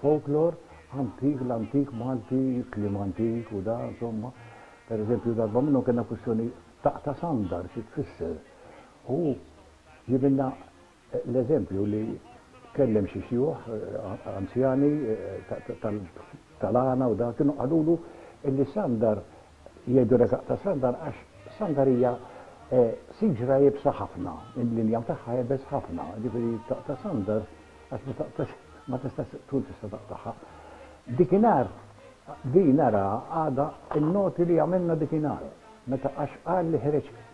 folklor antik, l-antik Malti, kliem antik u da, insomma. Per eżempju, darba minnhom kellna kwistjoni ta' ta' sandar xi tfisser. U jibinna l-eżempju li kellem xi xjuħ anzjani tal-għana u da, kienu qalulu illi sandar Jgħidu reżaq ta' Sandar għax Sandar hija siġra iebsa ħafna, l-injam tagħha iebes ħafna, jiġifieri taqta' Sandar għax ma taqtax ma tistax tkun tista' taqtagħha. Dikinhar din araha għadha n-noti li għamilna dikinhar meta għax qal li ħreġ